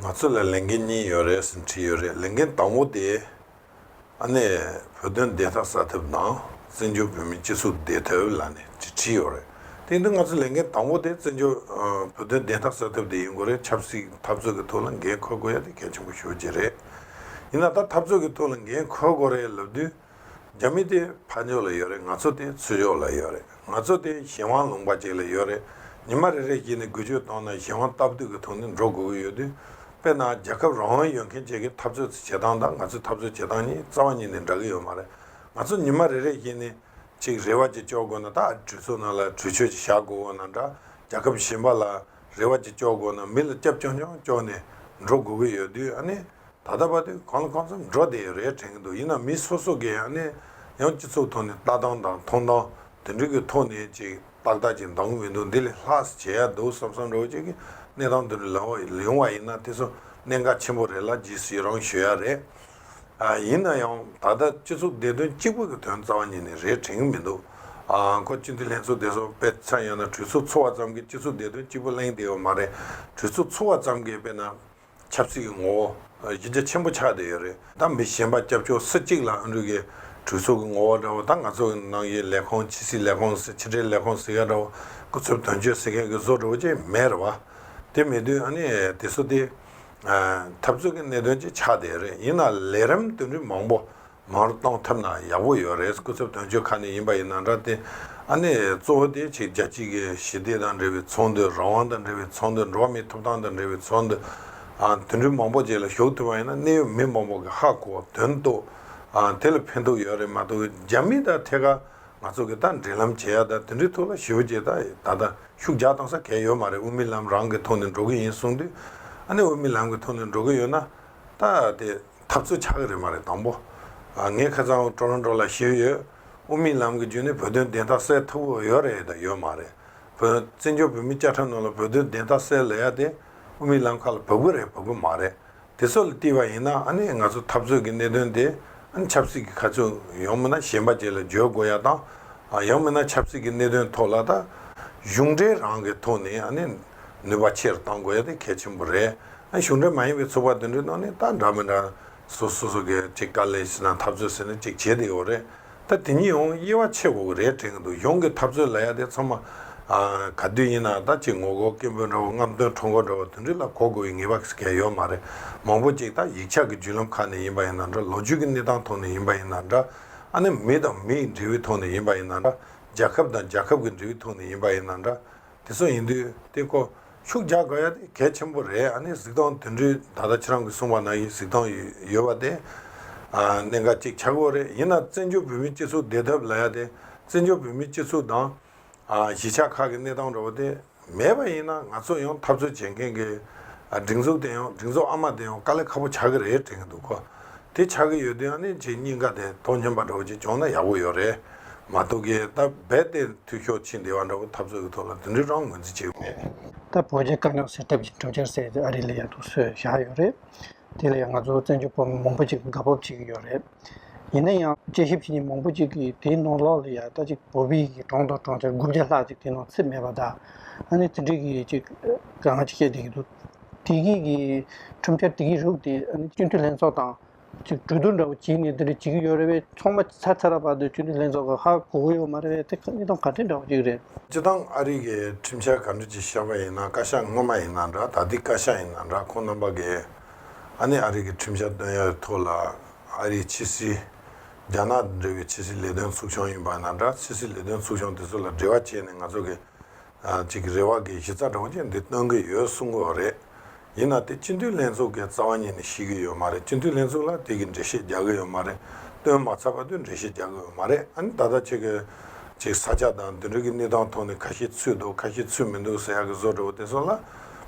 ང་ཚོ་ལ་ལས་འགན་གཉིས་ཡོད་རེད་ཟེར་བྲིས་ཡོད་རེད་ལས་འགན་དང་བོ་དེ། ཨ་ནེ། བོད་དོན་བདེ་ཐབས་གསར་ཐབས་དང་བཙན་བྱོལ་བོད་མིའི་སྤྱི་ཚོགས་བདེ་ཐབས་ལ་ནས་ཅེས་བྲིས་ཡོད་རེད་དེ་འདི་ང་ཚོ་ལས་འགན་དང་བོ་དེ་བཙན་བྱོལ། བོད་དོན་བདེ་ཐབས་གསར་ཐབས་དེ་ཡིན་དགོས་རེད་ཆབ་སྲིད་འཐབ་རྩོད་ཀྱི་ཐོག་ལ་འགན་འཁུར་དགོས་ཡ་དེ་གལ་ཆེན་པོ་ཤོས་ཅིག་རེད། ཡིན་ན་ད་འཐབ་རྩོད་ཀྱི་ཐོག་ལ་འགན་འཁུར་དགོས་རེད་ལབ་དུས། རྒྱ་མི་དེ་ཕ་མཆོག་ལ་ཡོད་རེད་ང་ཚོ་དེ་ཚུལ་མཆོག་ལ་ཡོད་རེད་ང་ཚོ་དེ་གཞན་དབང་ལུང་པ་ཅིག་ལ་ཡོད་རེད་ཉི་མ་རེ་རེ་བཞིན་ནས་འགུལ་སྐྱོད་གཏོང་ན་གཞན་དབང་སྟབས་བསྡུས་ཀྱི་ཐོག་ནས་འགྲོ་དགོས་ཀྱི་ཡོད་དུས་དཔེར་ན་རྒྱལ་ཁབ་རང་དབང་ཡོད་མཁན་བཅས་ཀྱི་འཐབ་རྩོད་བྱེད་སྟངས་དང་ང་ཚོའི་འཐབ་རྩོད་བྱེད་སྟངས་གཉིས་རྩ་བ་ཉིད་ནས་འདྲ་གི་ཡོད་མ་རེད་ང་ཚོ་ཉི་མ་རེ་རེ་བཞིན་ནས་ཅིག་རེ་བ་ཅིག་གཅོག་དགོས་ན་ད་གྲོས་ཚོགས་ནང་ལ་གྲོས་ཆོད་ཅིག་བཞག་དགོས་འོ་ན་འདྲ་རྒྱལ་ཁབ་གཞན་པ་ལ་རེ་བ་ཅིག་གཅོག་དགོས་ན་མི་ལ་སྐྱབས་བཅོལ་མཆོག་གཅོག་ནས་འགྲོ་དགོས་ཀྱི་ཡོད་དུས་ཨ་ནི། ད་ལྟ་བར་དུ་གང་ལ་གང་འཚམ་འགྲོ་བདེ་རེ་དྲན་གྱི་འདུག་ཡིན་ནའང་མི་སོ་སོ་གིས་ཡང་སྤྱི་ཚོགས་ཐོག་ནས་ལྟ་སྟངས་དང་མཐོང་སྟངས་དེ་འདྲ་གི་ཐོག་ནས་ཅིག་ཏག་ཏག་ཅིག་འདང་གི་མི་འདུག་འདི་ལས་ལྷག་ཟིག་བྱེད་ཡག་འདུག་བསམ་བསམ་རེ་བ་ཅིག་གིས་གནས་སྟངས་དེ་འདྲ་ཡོང་བ་ཡིན་ན་དེ་ཚོ་གནད་འགག་ཆེན་པོ་རེད་ལ་ཇི་སྲིད་རང་ཞུ་ཡག་རེད། ཡིན་ན་ཡང་ད་ལྟ་སྤྱི་ཚོགས་བདེ་དོན་གཅིག་པུ་གི་དོན་རྩ་བ་ཉིད་ནས་རེ་དྲན་གྱི་མི་འདུག་ཁོ་སྤྱི་འཐུས་ལྷན་ཚོགས་དེ་ཚོ་དཔེ་མཚོན་ཡང་ན་གྲོས་ཚུགས་འཚོ་བ་ཙམ་གྱིས་སྤྱི་ཚོགས་བདེ་དོན་གཅིག་པུ་གླེང་བདེ་བ་མ་རེད་གྲོས་ཚུགས་འཚོ་བ་ཙམ་གྱིས་དཔེར་ན་ཆབ་སྲིད་ཀྱི་ངོ་བོ་གཞི་རྒྱ་ཆེན་པོ་ཆགས་བསྡད་ཡོད་རེད་ད་མི་གཞན་པ་སྐྱབས་བཅོལ་སུ་གཅིག་ལ་འུ་འབྲུག་གི་གྲོས་ཚོགས་ཀྱི་ངོ་བོ་འདྲ་བོ་དང་ང་ཚོ་ནང་གི་ལས་ཁང་ཕྱི་སྲིད་ལས་ཁང་ཟེར་ཕྱི་དྲིལ་ལས་ཁང་ཟེར་ཡ་འདྲ་བོ་སྐུ་ཚབ་དོན་གཅོད་ཟེར་མཁན་གྱི་བཟོ་འདྲ་བོ་ཅིག་མེད་རེད་བ། དེ་མེད་དུས་ཨ་ནི་དེ་སུ་དེ། འཐབ་རྩོད་ཀྱི་གནད་དོན་ཅིག་ཆགས་བསྡད་ཡོད་རེད་ཡིན་ན་ལས་རིམ་དོན་རིགས་མང་པོ་མར་གཏོང་ཐབས་ན་ཡག་པོ་ཡོད་རེད་སྐུ་ཚབ་དོན་གཅོད་ཁ་ནས་ཡིན་པ་ཡིན་ན་འདྲ་སྟེ། ཨ་ནེ། གཙོ་བོ་དེ་ཆེ་རྒྱ་སྐྱིད་ཀྱི་ཞི་བདེ་དང་འབྲེལ་བའི་ཚོགས་འདུ་རང་དབང་དང་འབྲེལ་བའི་ཚོགས་འདུ་འགྲོ་བ་མིའི་ཐོབ་ཐང་དང་འབྲེལ་བའི་ཚོགས་འདུ། དོན་འགྲུལ་མང་པོ་བཅས་ལ་ཞུགས་ཐུབ་པ་ཡིན་ན་གནད་ཡོད་མི་མང་པོ་གི་ཧ་གོ་དོན་རྟོགས། དེ་ལ་ཕན་ཐོགས་ཡོད་རེད་མ་གཏོགས་རྒྱ་མི་དང་ཐད་ཀར་ང་ཚོ་གི་དང་འབྲེལ་ལམ་བྱེད་ཡ་དང་དེ་འདྲའི་ཐོག་ལ་ཞི་བ་བྱེད་ད་ད་ད་ཤུགས་རྒྱག་གཏང་ས་གལ་ཡོད་མ་རེད་དབུ་མའི་ལམ་རང་གི་ཐོག་ནས་འགྲོ་གི་ཡིན་གསུངས་དུས། ཨ་ནེ་དབུ་མའི་ལམ་གི་ཐོག་ནས་འགྲོ་གི་ཡོད་ན་ད་དེ་འཐབ་རྩོད་བྱ་གི་རེད་མ་རེད་དང་པོ། ངས་ཁ་ཚང་བོ་ཀྲོན་ཀྲོ་ལ་ཞུས་ཡོད། དབུ་མའི་ལམ་གྱི་རྒྱུན་ནས་བོད་དོན་བདེན་མཐའ་གསལ་ཐུབ་བོ་ཡོད་རེད་དང་ཡོད་མ་རེད། བོད་བཙན་བྱོལ་བོད་མི་བཅའ་ཁྲ་ནང་ལ་བོད་དོན་བདེན་མཐའ་གསལ་ལ་ཡ་དེ་དབུ་མའི་ལམ་ཁ་ལ་བབ་གི་རེད་བབ་གི་མ་རེད། དེ་ཚོ་ལ་བལྟས་པ་ཡིན་ན་ཨ་ནི་ང་ཚོ་འཐབ་རྩོད་ཀྱི་གནད་དོན་དེ་ཨ་ནི་ཆབ་སྲིད་ཀྱི་ཁ་ཚོན་ཡང་མིན་ན་གཞན་པ་བཅས་ལ་བརྗོད་དགོས་ཡ་དང། ཡང་མིན་ན་ཆབ་སྲིད་ཀྱི་གནད་དོན་ཐོག་ལ་དང། གཞུང་འབྲེལ་རང་གི་ཐོག་ནས་ཨ་ནི། ནུས་པ་ཆེ་རུ་གཏང་དགོས་ཡ་དེ་གལ་ཆེན་པོ་རེད། གཞུང་འབྲེལ་མ་ཡིན་པའི་ཚོགས་པ་དེ་འདྲའི་ནང་ནས་ད་འདྲ་མི་འདྲ། སོ་སོ་སོ་གས་ཅིག་དཀའ་ལས་བྱེད་ན་འཐབ་རྩོད་ཟེར་ནས་ཅིག་བྱེད་དེ་ཡོད་རེད། ད་དེ་གཉིས་ཡོང་དབྱེ་བ་ཕྱེ་དགོས་ཀྱི་རེད་དྲན་གྱི་འདུག་གཞུང་གི་འཐབ་རྩོད་ལ་ཡ་དེ་ཚང་མ། ག་དུས་ཡིན་ན་ད་ཅིག་ངོ་རྒོལ་སྐད་འབོད་འདྲ་བོ་རྔམ་སྟོན་ཁྲོམ་སྐོར་འདྲ་བོ་དེ་འདྲི་ལ་གོ་དགོས་ཀྱི་ངེས་པ་གལ་ཡོད་མ་རེད། མང་པོ་ཅིག་ད་ཡིག་ཆ་གི་བརྒྱུད་ལམ་ཁག་ནས་ཡིན་པ་ཡིན་ན་འདྲ་ལོ་རྒྱུས་ཀྱི་གནས་སྟངས་ཐོག་ནས་ཡིན་པ་ཡིན་ན་འདྲ། ཨ་ནེ་མི་དང་མིའི་འབྲེལ་བའི་ཐོག་ནས་ཡིན་པ་ཡིན་ན་འདྲ། རྒྱལ་ཁབ་དང་རྒྱལ་ཁབ་ཀྱི་འབྲེལ་བའི་ཐོག་ནས་ཡིན་པ་ཡིན་ན་འདྲ། དེ་གསུངས་ཡིན་དུས་དེ་སྐོར་ཤུགས་རྒྱག་དགོས་ཡ་དེ་གལ་ཆེན་པོ་རེད་ཨ་ནི་གཟིགས་སྟངས་དུད་འགྲོའི་ད་ལྟ་ཁྱེད་རང་གི་གསུངས་པ་ན་ཡི་གཟིགས་སྟངས་ཡོད་པ་དེ་གནད་འགག་གཅིག་ཆགས་གོ་རེད་ཡིན་ན་བཙན་བྱོལ་བོད་མི་སྤྱི་ཚོགས་བདེ་ཐབས་ལ་ཡ་དེ་བཙན་བྱོལ་བོད་མི་སྤྱི་ཚོགས་དང། གཞིས་ཆགས་ཁག་གི་གནས་སྟངས་འདྲ་བོ་དེ་མེད་པ་ཡིན་ན་ང་ཚོ་ཡང་འཐབ་རྩོད་བྱེད་མཁན་གྱི་སྒྲིག་འཛུགས་དེ་ཡང་སྒྲིག་འཛུགས་ཨ་མ་དེ་ཡང་དཀའ་ལས་ཁ་པོ་ཆགས་ཀྱི་རེད་དྲན་གྱི་འདུག་གོ། དེ་ཆགས་ཀྱི་ཡོད་དུས་ནི་ཇི་སྙེད་འགའ་དེ་དོ་སྙོམས་པ་འདྲ་བོ་ཅིག་བྱུང་ན་ཡག་པོ་ཡོད་རེད་མ་གཏོགས་གི་ད་རྦད་དེ་འཐུས་ཤོར་ཕྱིན་བདེ་བ་འདྲ་བོ་འཐབ་རྩོད་ཀྱི་ཐོག་ལ་དེ་འདྲའི་རང་ངོས་འཛིན་བྱེད་ཀྱི་མེད། ད་བོད་རྒྱའི་དཀའ་རྙོག་སེལ་ཐབས་ཀྱི་གྲོས་འཆར་ཟེར་དེ་ཨ་རི་ལ་ཡར་ཐུག་སྲོལ་བཞག་ཡོད་རེད། དེ་ལ་ཡང་ང་ཚོ་བཙན་བྱོལ་བོད་མི་མང་པོ་ཅིག་དགའ་སྤོབས་བྱེད་ཀྱི་ཡོད་རེད། ཡིན་ན་ཡང་དཔྱད་ཞིབ་བྱེད་མཁན་མང་པོ་ཅིག་གིས་དེའི་ནང་ལོགས་ལ་ཡང་ད་ཅིག་བོད་པའི་ཡི་གྲོང་དང་གྲོང་ཁྱེར་དགུ་བརྒྱ་ལྷག་ཅིག་དེའི་ནང་ཚུད་མེད་པ་དང། ཨ་ནི་དེ་འདྲའི་གི་ཅིག་ག་ང་ཅིག་བཤད་བསྡད་ཀྱི་འདུག་བདེ་སྐྱིད་ཀྱི་ཁྲོམ་ཆར་བདེ་སྐྱིད་རུ་དེ་སྤྱི་འཐུས་ལྷན་ཚོགས་དང། གྲོས་བསྡུར་འདྲ་བོ་བྱས་ནས་དེ་འདྲ་བྱེད་ཀྱི་ཡོད་རེད་བས་ཚོགས་མ་ཚར་ཚར་བར་དུ་སྤྱི་འཐུས་ལྷན་ཚོགས་ཀྱི་ཧ་གོ་གི་ཡོད་མ་རེད་བས་དེ་གནས་སྟངས་ག་དུས་འདྲ་བོ་ཞིག་རེད། སྤྱི་བཏང་ཨ་རིག་གི་ཁྲིམས་འཆར་ག་འདྲ་ཅིག་ཤར་བ་ཡིན་ན་བཀའ་ཤག་སྔོན་མ་ཡིན་ན་འདྲ་ད་ལྟའི་བཀའ་ཤག་ཡིན་ན་འདྲ་ཁོང་རྣམ་པ་གིས་ཨ་ནི་ཨ་རིག་གི་ཁྲིམས་འཆར་བཏོན་ཡག་གི་ཐོག་ལ་ཨ་རིའི་ཕྱི་སྲིད། རྒྱ་ནག་དང་འབྲེལ་བའི་ཕྱི་སྲིད་ལས་དོན་ཚུགས་ཆུང་ཡིན་པ་ན་འདྲ་ཕྱི་སྲིད་ལས་དོན་ཚུགས་ཆུང་དེ་ཚོ་ལ་འབྲེལ་བ་བྱས་ནས་ང་ཚོ་གི་གཅིག་གི་རེ་བ་དགེ་བཤེས་རྩ་གྲོང་ཁྱེར་འདི་སྟོན་གི་ཡོད་གསུང་གི་རེད། ཡིན་ན་དེ་སྤྱི་འཐུས་ལྷན་ཚོགས་ཀྱི་རྩ་བ་ཉིད་ནས་ཤེས་ཀྱི་ཡོད་མ་རེད་སྤྱི་འཐུས་ལྷན་ཚོགས་ལ་དེ་གི་འགྲེལ་བཤད་རྒྱག་གི་ཡོད་མ་རེད་སྟོན་མ་ཚར་བ་དུས་འགྲེལ་བཤད་རྒྱག་གི་ཡོད་མ་རེད་ཨ་ནི་ད་ལྟ་ཁྱེད་ཀྱི་ཅིག་ས་ཆ་དང་དེ་འབྲེལ་གི་གནས་སྟངས་ཐོག་ནས་ཁ་ཤས་ཚུད་འདུག་ཁ་ཤས་ཚུད་མི་འདུག་ཟེར་ཡག་གི་བཟོ་འདྲ་བོ་དེ་སོགས་ལ་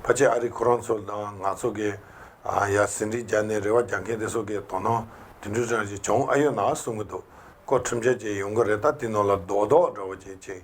ཕ་ཆེ་ཨ་རིག་ཁོ་རང་ཚོ་དང་ནག་ཚོ་གི་ཡ་ཟིན་བྲིས་རྒྱག་ནས་རེ་བ་རྒྱག་མཁན་དེ་སོགས་ཀྱི་དོ་སྣང་དུད་འགྲོའི་གྲངས་ཅིག་བྱུང་ཨ་ཡོད་ན་གསུང་གི་འདུག་ཀོ་ཁྲིམས་ཆད་ཅིག་ཡོང་གི་རེད་ད་དེ་ནང་ལ་རྡོག་རྡོག་འདྲ་བོ་ཅིག་ཅིག་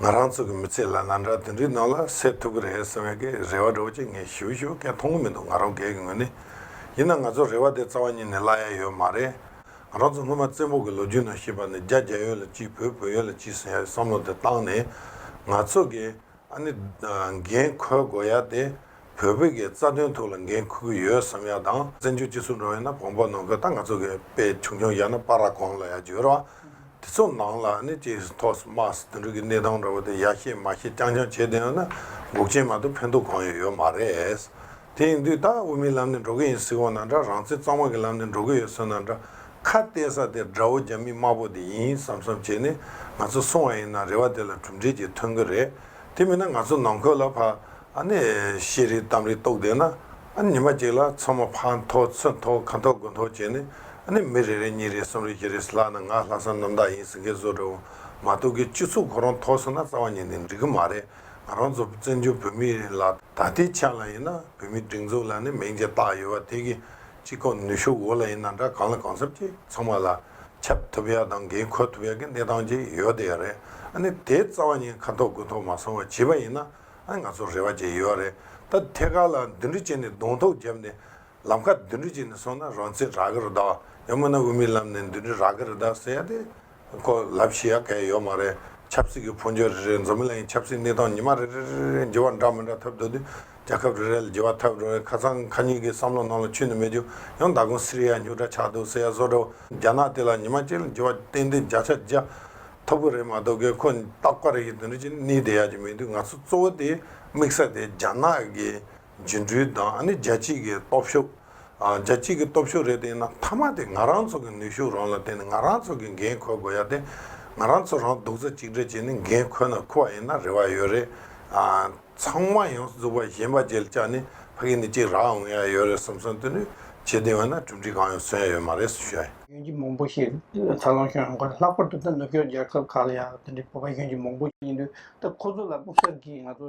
ང་རང་ཚོ་གི་མི་ཚེ་ལ་ང་འདྲ་དེ་འདྲའི་ནང་ལ་སད་ཐུབ་ཀྱི་རེད་ཟེར་བའི་གི་རེ་བ་འགྲོ་ཅིག་ངས་ཞུ་ཞུ་སྐད་མཐོང་གི་མི་འདུག་ང་རང་སྒེར་གྱི་ངོས་ནས་ཡིན་ན་ང་ཚོ་རེ་བ་དེ་རྩ་བ་ཉིད་ནས་བརླག་ཡ་ཡོད་མ་རེད། ང་རང་ཚོ་སྔོན་མ་བཙན་པོ་གི་ལོ་རྒྱུས་ནང་ཤེས་པ་ནི་རྒྱ་རྒྱ་ཡོད་ལ་ཅི་བོད་བོད་ཡོད་ལ་ཅི་ཟེར་ཡ་བའི་བསམ་བློ་དེ་བཏང་ནས་ང་ཚོ་གི་ཨ་ནི་འགན་ཁུར་དགོས་ཡ་དེ་བོད་བོད་ཀྱི་རྩ་དོན་ཐུགས་ལ་འགན་ཁུར་གི་ཡོད་བསམ་ཡ་དང་བཙན་བྱོལ་སྤྱི་ཚོགས་འགྲོ་ཡ་ན་བོང་བོ་ནང་ཁུལ་ད་ང་ཚོ་གི་དཔེ་ཆུང་ཆུང་ཡ་ན་པ་ར་གོང་ལ་ཡ་བརྗོད་རོགས་དེ་ཚོ་ནང་ལ་ནི་ཅེས་སུ་ཐོག་སུ་དམག་སུ་དུད་འགྲོ་གི་གནས་སྟངས་འདྲ་བོ་དེ་ཡ་ཤེས་མ་ཤེས་རྐྱང་རྐྱང་བྱེད་བསྡད་ཡོང་ན་འགུག་ཆེན་མ་གཏོགས་ཕན་ཐོགས་གང་ཡོད་ཡོད་མ་རེད། དེ་ཡིན་དུས་ད་དབུ་མིའི་ལམ་ནས་འགྲོ་གི་ཡིན་སྲིད་གོ་ན་འདྲ་རང་བཙན་གཙང་མ་གི་ལམ་ནས་འགྲོ་གི་ཡོད་སྲིད་ན་འདྲ་ཁ་གཏད་ས་དེ་དགྲ་བོ་རྒྱ་མི་དམར་པོ་དེ་ཡིན་བསམ་བསམ་བྱས་ནས་ང་ཚོ་སོང་བ་ཡིན་ན་རེ་བ་དེ་ལ་གྲུབ་འབྲས་ཀྱི་ཐོན་གི་རེད་དེ་མིན་ན་ང་ཚོ་ནང་ཁོལ་ལ་ཕ་ཨ་ནས་ཤེས་རིག་གཏམ་རིག་རྟོགས་བསྡད་ན། ཉི་མ་གཅིག་ལ་ཚོང་མ་ཕག་མཐོ་ཚོད་མཐོ་ཁ་མཐོ་དགུ་མཐོ་བྱས་ནས་མི་རེ་རེ་གཉིས་རེ་གསུམ་རེ་བཞི་རེ་ལྷག་ན་ང་ལྷ་ས་གནམ་བདག་ཡིན་ཟེར་མཁན་བཟོ་རེ་བ་མ་གཏོགས་ཀྱི་སྤྱི་ཚོགས་ཁོ་རང་ཐོག་ཟེར་ན་རྩ་བ་ཉིད་ནས་འགྲིག་གི་མ་རེད་ང་རང་ཚོ་བཙན་བྱོལ་བོད་མི་ཡིན་ལ་ད་ལྟའི་ཆ་ལ་ཡིན་ན་བོད་མི་སྒྲིག་འཛུགས་ལ་ནི་མིང་ཅིག་བཏགས་ཡོད་བ་དེ་གི་སྤྱི་ཁོག་ནུས་ཤུགས་འོག་ལ་ཡིན་ན་འདྲ་གང་ལ་གང་འཚམས་ཀྱི་ཚང་མ་ལ་ཁྱབ་ཐུབ་ཡ་དང་འགན་འཁུར་ཐུབ་ཡ་གི་གནས་སྟངས་ཅིག་ཡོད་དེ་ཡ་རེད་དེ་རྩ་བ་ཉིད་ཁ་མཐོ་དགུ་མཐོ་མ་སོང་བ་བྱས་པ་ཡིན་ན། ཨ་ང་ཚོར་རེ་བ་ཅན་ཡོད་རེད་ད། ཐད་ཀར་ལ་མདུན་གྲི་བཅད་ནས་གདོང་ཐོག་བརྒྱབ་ནས། ལམ་ཁར་མདུན་གྲི་བཅད་ནས་སོང་ན་རང་བཙན་རག་གི་རེད་ད། ཡང་མིན་ན་དབུ་མའི་ལམ་ནས་མདུན་གྲི་རག་གི་རེད་ད་ཟེར་ཡ་དེ། ཁོ་ལབ་ཤི་ཡ་གལ་ཡོད་མ་རེད། ཆབ་སྲིད་ཀྱི་ཕོ་འཇོན་རེ་རེས་འཛོམས་མི་ལ་ཡིན་ཆབ་སྲིད་གནས་སྟངས་ཉི་མ་རེ་རེ་རེ་རེ་འགྱེལ་བ་འདྲ་མི་འདྲ་ཐབས་འདོད་དུས་རྒྱལ་ཁབ་རེ་རེ་ལ་འགྱེལ་བ་ཐབས་རེ་བས་ཁ་ཚང་ཁ་ཉུལ་གྱི་བསམ་བློ་ནང་ལ་ཆུད་ནས་མེད་རྒྱུ་ཡང་ད་དགོང་སི་རི་ཡ་སྙུག་དྲ་ཆགས་འདུག་ཟེར་ཡ་བཟོ་འདྲ་བོ་རྒྱ་ནག་དེ་ལ་ཉི་མ་གཅིག་ལ་འགྱེལ་བ་ཏན་ཏན་བརྒྱ་ཆ་བརྒྱ། ཐབས་ཀྱི་རེ་མ་ཏོག་གིས་ཁོ་རྟག་པར་ཡིད་དུ་འདྲི་ཅིང་ནི་དེ་ཡག་ཅིག་མི་འདུག་ང་ཚོ་གཙོ་བོ་དེ་དམིགས་ས་དེ་རྒྱ་ནག་གི་འགྱུར་འགྲོས་དང་ནི་རྒྱལ་སྤྱིའི་གི་སྟོབས་ཤུགས། རྒྱལ་སྤྱིའི་གི་སྟོབས་ཤུགས་རེད་དེ་ཡིན་ན་མཐའ་མ་དེ་ང་རང་ཚོ་གི་ནུས་ཤུགས་རང་ལ་བརྟེན་ནས་ང་རང་ཚོ་གི་འགན་ཁོལ་དགོས་ཡ་དེ། ང་རང་ཚོ་རང་སྡུག་རྩ་གཅིག་སྒྲིལ་བྱས་ནས་འགན་ཁོལ་ན་ཁུ་བ་ཡིན་ན་རེ་བ་ཡོད་རེད། ཚང་མ་ཡང་རྫོགས་པ་གཞན་པ་རྒྱལ་བཅག་ནས་ཕ་གི་ནི་གཅིག་རག་འོང་ཡ་ཡོད་རེད་བསམ་བསམ་དུ་ནི་བྱེད་དེ་འོན་ན་གྲུབ་འབྲི་གང་ཡང་སོན་ཡ་ཡོད་མ་རེད་ཟེར། གཞོན་སྐྱེས་མང་པོ་ཞིག་འཚར་ལོངས་བྱུང་ཡོང་ཁར་ལྷག་པར་དུ་ད་ནུབ་ཕྱོགས་རྒྱལ་ཁབ་ཁག་ལ་ཡང་དེ་འདྲའི་བོད་པ་གཞོན་སྐྱེས་མང་པོ་ཡིན་དུས་ད་ཁོ་ཚོ་ལ་དཔུང་ཤག་གིས་ང་ཚོ